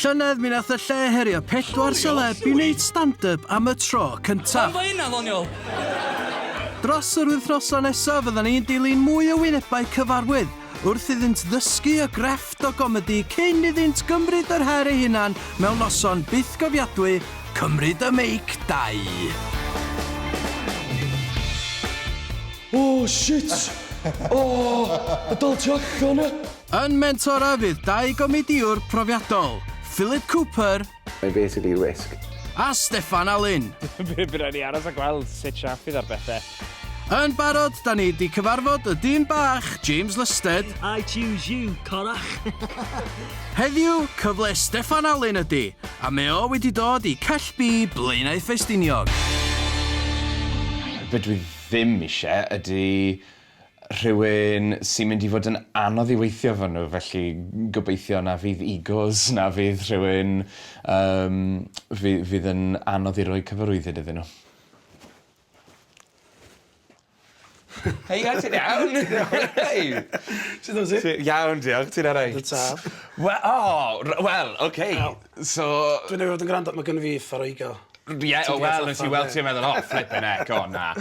Llynedd mi nath y lle herio pedwar seleb i wneud stand up am y tro cyntaf. Pam fo hynna ddoniol? Dros yr wythnosau nesaf fyddan ni'n dilyn mwy o wynebau cyfarwydd wrth iddynt ddysgu y grefft o gomedi cyn iddynt gymryd yr her ei hunan mewn noson bythgofiadwy Cymryd y Meic 2. O shit! O! Y dol tu allan e! Yn mentora fydd dau gomedïwr profiadol, Philip Cooper. Mae basically risg. A Steffan Alun. By by raid ni aros a gweld sut siâp fydd ar bethe. Yn barod, da ni 'di cyfarfod y dyn bach, James Lusted. I choose you, corach! Heddiw, cyfle Steffan Alun ydy, a mae o wedi dod i Cell B, Blaenau Ffestiniog. Fedri ddim ishe ydy rhywun sy'n mynd i fod yn anodd i weithio efo nhw felly gobeithio na fydd egos na fydd rhywun yym fy- fydd yn anodd i roi cyfarwyddyd iddyn nhw. Hei o't ti'n iawn? Sut wyt ti? Iawn diolch, ti'n alright? Dwi'n saff. We- o! R- wel ok so... Dwi'n neu' fod yn grando ma' gynno fi uffar o ego. Ie, o wel, nes i weld ti a meddwl, oh, flippin' heck, o na.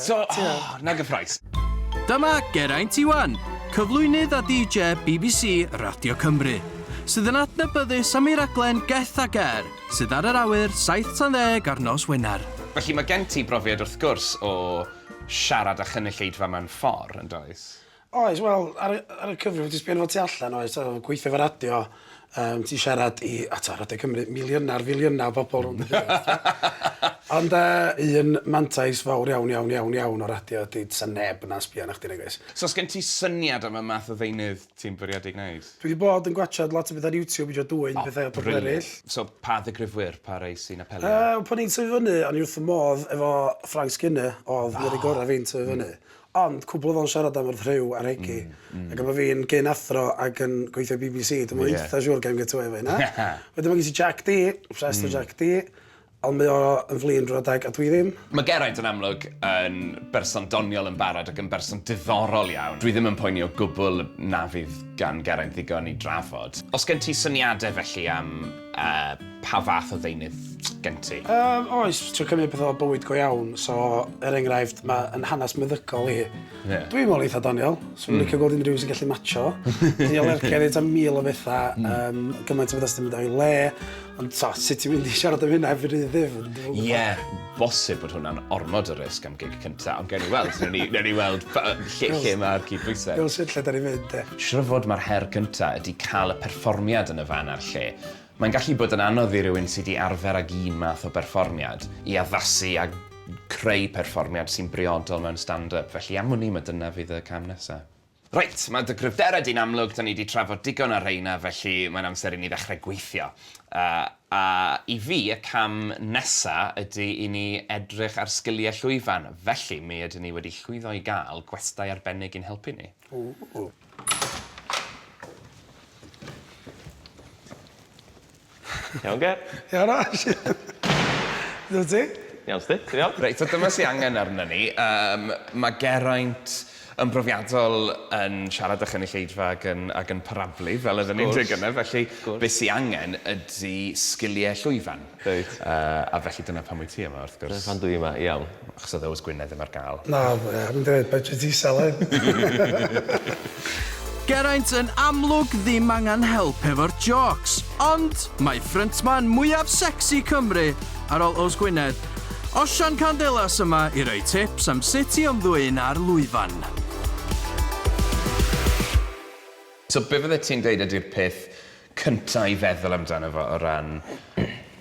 so, oh, na gyffroes. Dyma Geraint Iwan, cyflwynydd a DJ BBC Radio Cymru, sydd yn adnabyddus am ei raglen Geth a Ger, sydd ar yr awyr 7 tan 10 ar nos Wener. Felly mae gen ti brofiad wrth gwrs o siarad a chynulleidfa mewn ffordd, yn does? Oes, wel, ar y, ar y cyfrif, ti'n sbio fo tu allan, oes, ti'n gweithio fo radio, um, ti'n siarad i, a ti'n radio Cymru, miliynau, filiynau o bobl rhwng y Ond uh, un mantais fawr iawn, iawn, iawn, iawn o radio ydy, sa neb na sbio na chdi negais. So, sgen ti syniad am y math o ddeunydd ti'n bwriadu gwneud? Dwi wedi bod yn gwachod lot o beth ar YouTube, eisiau dwy'n oh, pethau o bobl eraill. So, pa ddigrifwyr, pa rei sy'n apelio? Uh, pan i'n tyfu fyny, o'n i wrth y modd efo Frank Skinner, oedd oh. yr gorau fi'n tyfu fyny. Ond cwpl oedd o'n siarad am wrth rhyw ar Hegi, ac efo fi yn gyn athro ac yn gweithio i BBC, dwi'm yn eitha siŵr gawn get away efo hynna. Wedyn ma' gen ti Jack Dee, obsessed efo Jack Dee, ond mae o yn flin drw'r adeg a dwi ddim. Mae Geraint yn amlwg yn berson doniol yn barod ac yn berson diddorol iawn. Dwi ddim yn poeni o gwbl na fydd gan Geraint ddigon i drafod. Os gen ti syniadau felly am A pa fath o ddeunydd gen ti? Yym oes, trio cymryd pethau o bywyd go iawn, so er enghraifft ma' yn hanes meddygol i. Ie. Dwi'n me'wl eitha doniol. Hmm. Swn i'n licio gweld unrhyw un sy'n gallu matsio. Dwi am ergyd neud tua mil o betha hmm. yym gymaint o betha sy 'di mynd o'i le ond t'o' sut ti'n mynd i siarad am hynna heb fy rhydd ddim. Ie. bosib bod hwnna'n ormod o risg am gig cynta, ond gewn ni weld. Newn ni, newn ni weld lle, lle mae'r cydbwysedd. Gael sut lle da ni'n mynd, de. Siwr fod mae'r her cynta ydy cael y perfformiad yn y fan a'r lle. Mae'n gallu bod yn anodd i rywun sydd wedi arfer ag un math o berfformiad i addasu a creu perfformiad sy'n briodol mewn stand-up, felly am wn i mae dyna fydd y cam nesaf. Reit, mae dy gryfderau di'n amlwg, 'da ni 'di trafod digon ar rheina, felly mae'n amser i ni ddechrau gweithio. Yy, a i fi, y cam nesa' ydy i ni edrych ar sgiliau llwyfan, felly mi ydyn ni wedi llwyddo i gael gwestai arbennig i'n helpu ni. Ww. Iawn Ger. Iawn Ash. Dw ti? Iawn sti? Ti'n iawn? Reit so dyma sy angen arnon ni yym ma' Geraint yn brofiadol yn siarad â chynulleidfa ag yn ag yn parablu fel odden ni'n deu gynne felly be' sy angen ydi sgilie llwyfan. Reit. Yy a felly dyna pam wyt ti yma wrth gwrs. Dyna pam dw i yma, iawn. Achos oedd Oes Gwynedd ddim ar gael. Na, I haven't heard by Jyst isel hyn. Geraint yn amlwg ddim angen help efo'r jôcs, ond mae ffryntman mwyaf secsi Cymru, ar ol Oes Gwynedd, Osian Candelas yma i roi tips am sut i ymddwyn ar lwyfan. So be fyddet ti'n dweud ydy'r peth cynta i feddwl amdano fo o ran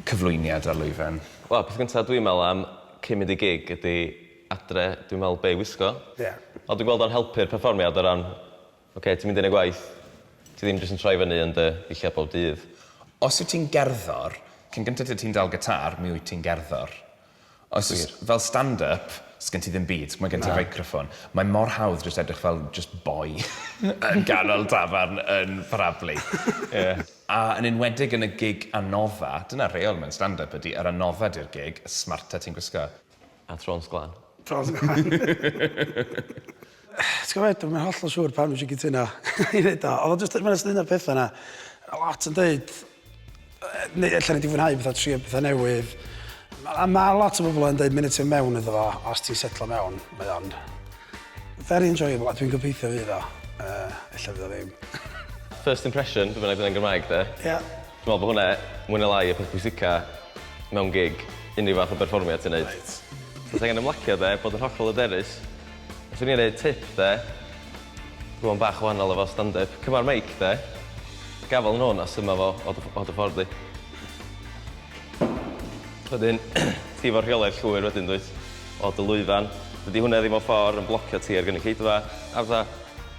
cyflwyniad ar lwyfan? Wel, peth cynta dwi'n meddwl am cyn mynd i gig ydi adre, dwi'n meddwl be' i wisgo. Ie. Ond dwi'n gweld o'n helpu'r perfformiad o ran, ocê, ti'n mynd i neud gwaith, ti ddim jyst yn troi fyny yn dy ddillad bob dydd. Os wyt ti'n gerddor, cyn gynta tŷ ti'n dal gitâr, mi wyt ti'n gerddor. Os oes fel stand up, sgen ti ddim byd, mae gen ti feicroffon. Mae mor hawdd jyst edrych fel jyst boi yn ganol dafarn yn parablu. A yn enwedig yn y gig anoddfa, dyna rheol mewn stand up ydi, yr anoddfa di'r gig, y smarta ti'n gwisgo. A Trôns Glân. Trôns Glân. Ti'n gwybod, dwi'n mynd holl o siŵr pan wyt ti'n cytuno i wneud o. Oedd o jyst, mae'n ystod un o'r pethau yna. A lot yn dweud, neu allan ni di fwynhau bethau, trio bethau newydd. A mae lot o bobl yn dweud, mynd ti'n mewn iddo fo, os ti'n setlo mewn, mae o'n very enjoyable, a dwi'n gobeithio fydd o. Uh, ella fydd o ddim. First impression, dwi'n bynnag yn Gymraeg de. Ie. Yeah. Dwi'n meddwl bod hwnna, mwyn y lai, y peth bwysica mewn gig, unrhyw fath o berfformiad ti'n neud. Right. Ti'n angen ymlacio de, bod yn hollol aderus, Os o'n i'n rhoi tip de, rhywun bach wahanol efo stand-up, cymar meic de, gafal yn hwn a syma fo o dy o dy ffordd di. Wedyn ti fo rheolaidd llwyr wedyn dwyt? O dy lwyfan. Dydi hwnna ddim mewn ffor yn blocio ti o'r gynulleidfa a fatha,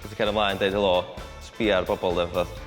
ti 'di cario mlaen deud helo, sbia ar bobol de fatha.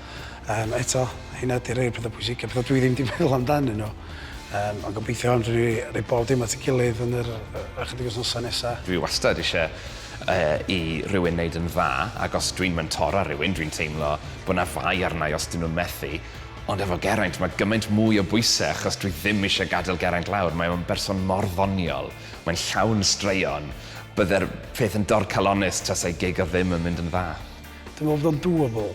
Yym eto, hynna ydi rhei o'r petha pwysica, petha dwi ddim 'di meddwl amdanyn nhw. Yym ond gobeithio fedrwn ni roi bob dim at 'i gilydd yn yr ychydig wythnosa nesa. Dwi wastad isie yy i rywun neud yn dda ac os dwi'n mentora ar rywun dwi'n teimlo bo' 'na fai arna i os 'dyn nhw'n methu ond efo Geraint ma' gymaint mwy o bwyse achos dwi ddim isie gadel Geraint lawr mae o'n berson mor ddoniol mae'n llawn straeon bydde'r peth yn dorcalonnus tasai gig o ddim yn mynd yn dda. Dwi'n meddwl bod o'n doable.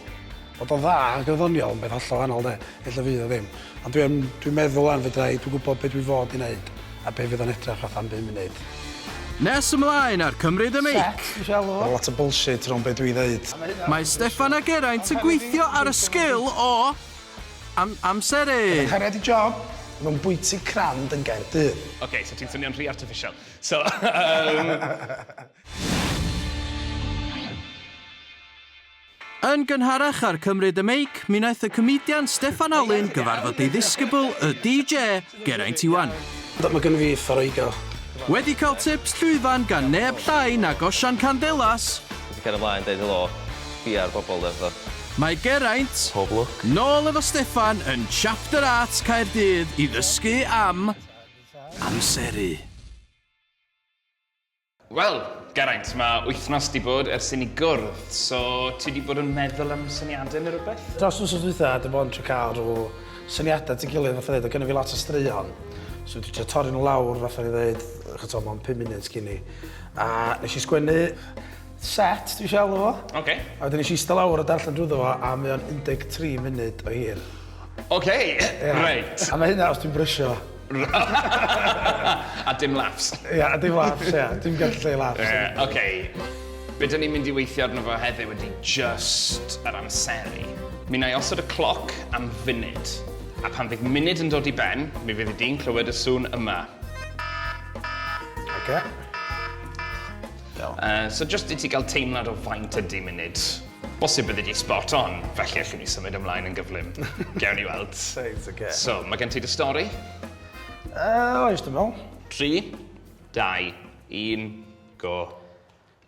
Bod o'n dda ac yn ddoniol yn beth hollol wahanol de, ella fydd o ddim. Ond dwi'n dwi meddwl wan fedra i, dwi'n gwybod beth dwi fod i wneud a beth fydd o'n edrych fatha am bum munud. Nes ymlaen ar Cymryd y Meic! Mae lot o bullshit rownd be dwi ddeud. Mae Steffan a Geraint yn gweithio ar y sgil o am amseru. Gyda chariad i job, ma nhw'n bwyty crand yn Gaerdydd. Ok, so ti'n swnio'n rhy artiffisial. So, yym. Yn gynharach ar Cymryd y Meic, mi wnaeth y comedian Steffan Alun gyfarfod ei ddisgybl, y DJ, Geraint Iwan. Ond mae gennym fi uffar o ego. Wedi cael tips llwyfan gan neb llai nag Osian Candelas! Ti gallu cario mlaen deud helo, sbia ar bobl de fatha. Mae Geraint, Pob lwc. Nôl efo Steffan yn Chapter Arts Caerdydd i ddysgu am amseru. Wel, Geraint, mae wythnos 'di bod ers i ni gwrdd, so ti 'di bod yn meddwl am syniadau neu rywbeth? Dros wythnos dwytha, dwi mond trio cael rhyw syniadau at ei gilydd, fatha ddeud, oedd gynna fi lot o straeon, so dwi trio torri nhw lawr, fatha ni ddeud, ch'od t'o' mewn pum munud cyn 'ny. A nes i sgwennu Set, dwi isio alw fo. Oce. A wedyn nes i ista lawr a darllen drwyddo fo a mae o'n 13 munud o hir. Oce, reit. A mae hynna os dwi'n brysio. A dim laughs. Ia, a dim laughs, ia. Dim gallu lleu laughs. Ie, oce. Be dyn ni'n mynd i weithio arno fo heddiw ydy jyst yr amseru. Mi wna i osod y cloc am funud. A pan fydd munud yn dod i ben, mi fyddi di'n clywed y sŵn yma. Oce. Iawn. Uh, so just i ti gael teimlad o faint ydy munud. Bosib byddi di spot on, felly allwn ni symud ymlaen yn gyflym. Gewn ni weld. Reit, oce. So, mae gen ti dy stori? Uh, oes, dwi'n meddwl. 3, 2, 1, go.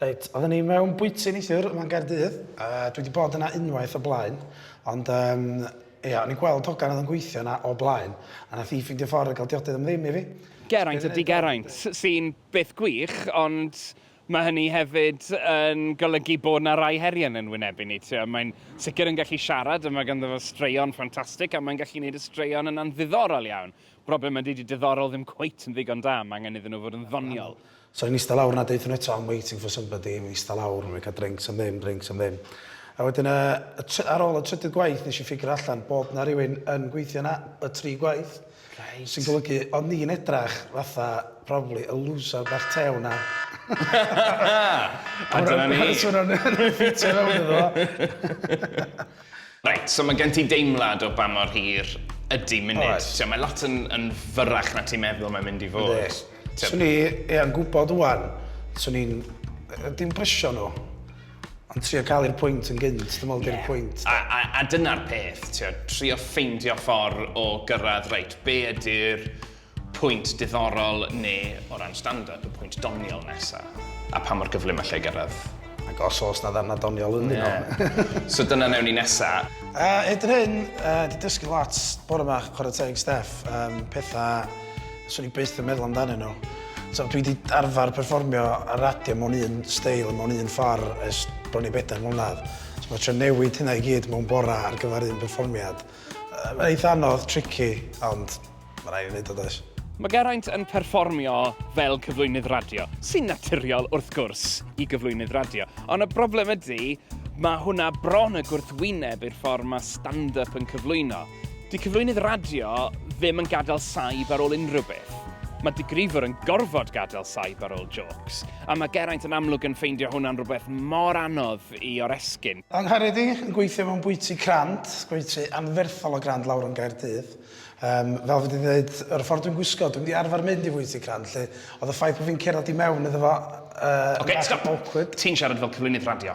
Reit, oedden ni mewn bwyty neithiwr yma'n Gaerdydd, a dwi wedi bod yna unwaith o blaen, ond um, ia, o'n i'n gweld hogan oedd yn gweithio yna o blaen, a nath i ffeindio ffordd o gael diodydd am ddim i fi. Geraint ydy Geraint, sy'n beth gwych, ond mae hynny hefyd yn golygu bod 'na rai heriau yn ein wynebu ni. Tibod, mae'n sicr yn gallu siarad, a mae ganddo fo straeon ffantastig, a mae'n gallu gwneud y straeon yna'n ddiddorol iawn. Broblem ydy, 'di diddorol ddim cweit yn ddigon da, mae angen iddyn nhw fod yn ddoniol. So i'n ista lawr 'na a deutha nhw eto 'I'm waiting for somebody', i'n ista lawr, we cael drinks am ddim, drinks am ddim. A wedyn y, y try- ar ôl y trydydd gwaith nes i ffigyro allan bod 'na rywun yn gweithio 'na y tri gwaith. Reit. Sy'n golygu, o'n ni'n edrach fatha, probably, y looser bach tew 'na. A dyna ni. So o'n nhw'n ffitio fewn iddo fo. Reit, so mae gen ti deimlad o ba mor hir ydy munud. Oes. Ti'n gwbod, mae lot yn, yn fyrrach na ti'n meddwl mae'n mynd i fod. Yndi. Swn i, ie, yn gwybod ŵan, swn i'n, dim presio nhw. Ond trio cael i'r pwynt yn gynt, dwi'n meddwl yeah. di'r pwynt. A, a, a dyna'r peth, tio, trio ffeindio ffordd o gyrraedd, reit, be ydy'r pwynt diddorol neu o ran stand-up, y pwynt doniol nesaf, a pa mor gyflym allai gyrraedd. Ac os oes na ddarna doniol yn yeah. nhw. so dyna newn ni nesaf. Uh, Edr hyn, uh, di dysgu lot bore yma, chwarae teg Steff, um, pethau 'Swn i byth yn meddwl amdanyn nhw. T'o' dwi 'di arfar perfformio ar radio mewn un steil, mewn un ffor ers bron i bedair mlynadd. So ma' trio newid hynna i gyd mewn bora ar gyfar un perfformiad yy ma'n eitha anodd, tricky, ond ma' rai' fi neud o does? Ma' Geraint yn perfformio fel cyflwynydd radio, sy'n naturiol wrth gwrs i gyflwynydd radio, ond y broblem ydi ma' hwnna bron y gwrthwyneb i'r ffor ma' stand-up yn cyflwyno. Dyw cyflwynydd radio ddim yn gadael saib ar ôl unrhyw beth. Mae digrifwr yn gorfod gadael saib ar ôl jôcs, a mae Geraint yn amlwg yn ffeindio hwnna'n rhywbeth mor anodd i oresgyn. Angharedig yn gweithio mewn bwyty Crand, gwyty anferthol o Grand lawr yn Gaerdydd. Yym, fel fi 'di ddeud, yr ffordd dwi'n gwisgo, dwi'm 'di arfer mynd i fwyty Crand, 'lly, oedd y ffaith bod fi'n cerdded i mewn iddo fo yy yn bach yn awkward. Ti'n siarad fel cyflwynydd radio.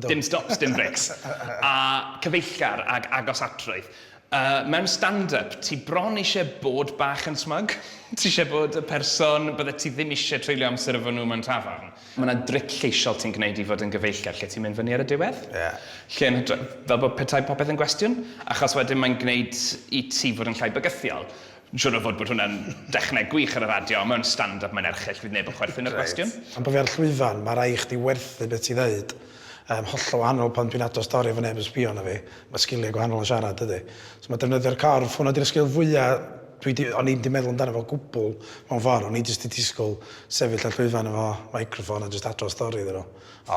Dim stops, dim breaks. A cyfeillgar ag agos atrwydd. Yy, mewn stand-up, ti bron eisie bod bach yn smug. Ti eisie bod y person byddet ti ddim eisie treulio amser efo nhw mewn tafarn. Ma' 'na dric lleisiol ti'n gwneud i fod yn gyfeillgar lle ti'n mynd fyny ar y diwedd. Ie. Lle yn hytrach, fel bod petai popeth yn gwestiwn, achos wedyn mae'n gwneud i ti fod yn llai bygythiol. Yn siŵr o fod bod hwnna'n dechneg gwych ar y radio, ond mewn stand up mae'n erchyll, fydd neb yn chwerthin ar y gwestiwn. Reit. Am bo fi ar llwyfan, ma rai chdi werthu be ti ddeud. Yym, hollol wahanol pan dwi'n ado stori efo neb yn sbio arna fi. Ma sgilia gwahanol o siarad dydi? So ma defnyddio'r corff, hwnna di'r sgil fwya dwi di, o'n i'm di meddwl amdano fo gwbwl mewn ffor, o'n i jyst di disgwl sefyll ar llwyfan efo microffon a jyst ado stori iddyn nhw.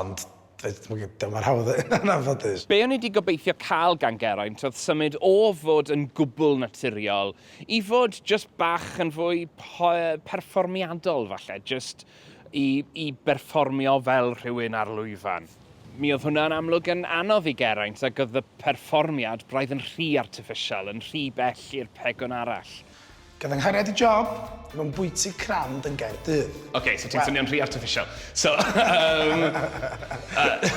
Ond, Dyma'r hawdd yn anffodus. Be o'n i 'di gobeithio cael gan Geraint oedd symud o fod yn gwbl naturiol i fod jyst bach yn fwy perfformiadol falle, jyst i i berfformio fel rhywun ar lwyfan. Mi oedd hwnna yn amlwg yn anodd i Geraint ac oedd y perfformiad braidd yn rhy artiffisial, yn rhy bell i'r pegwn arall. Cyfynghariad i job mewn bwyty crand yn Gaerdydd. Oce, so ti'n swnio'n rhy artiffisial. So, um, uh,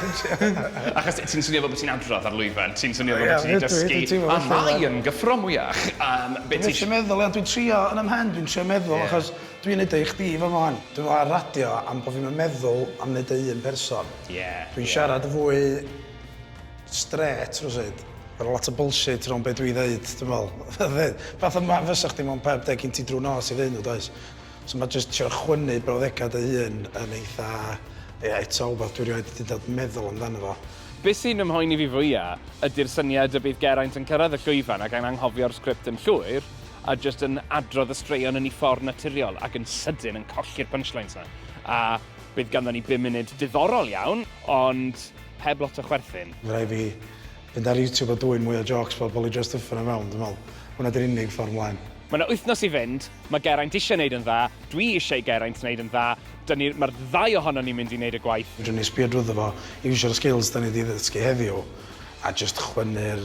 achos ti'n swnio fel bod ti'n adrodd ar lwyfan, ti'n swnio fel bod ti'n dysgu, a mae yn gyffro mwyach. Um, dwi'n eisiau meddwl, ia, dwi'n trio yn ymhen, dwi'n trio meddwl, yeah. achos dwi'n neud eich di fo mohan. Dwi'n meddwl ar radio am bod fi'n meddwl am neud ei un person. Yeah, dwi'n yeah. siarad fwy strêt rywsud. Ma' 'na lot o bullshit rownd be' dwi ddeud dwi'n me'wl. Fydd. Fatha ma' fysa chdi mewn pub de gin ti drw'n nos i fynd does? So ma' jyst trio chwynnu brawddega' dy hun yn eitha ie eto wbath dwi rioed 'di dod meddwl amdano fo. Be' sy'n fy mhoeni fi fwya' ydi'r syniad y bydd Geraint yn cyrraedd y llwyfan ac yn anghofio'r sgript yn llwyr a jyst yn adrodd y straeon yn 'i ffordd naturiol ac yn sydyn yn colli'r punchlines 'na a bydd ganddon ni bum munud diddorol iawn ond Heb lot o chwerthin. Mae rhaid fi fynd ar YouTube a dwyn mwy o jôcs fel Polly Jo Stuffin o fewn, dwi'n meddwl. Hwnna 'di'r unig ffordd 'mlaen. Mae 'na wythnos i fynd, mae Geraint eisiau 'neud yn dda, dwi eisiau i Geraint 'neud yn dda, 'dyn ni, mae'r ddau ohonon ni'n mynd i 'neud y gwaith. Fedrwn ni sbio drwyddo fo, iwsio'r skills 'dan ni 'di ddysgu heddiw, a jyst chwynnu'r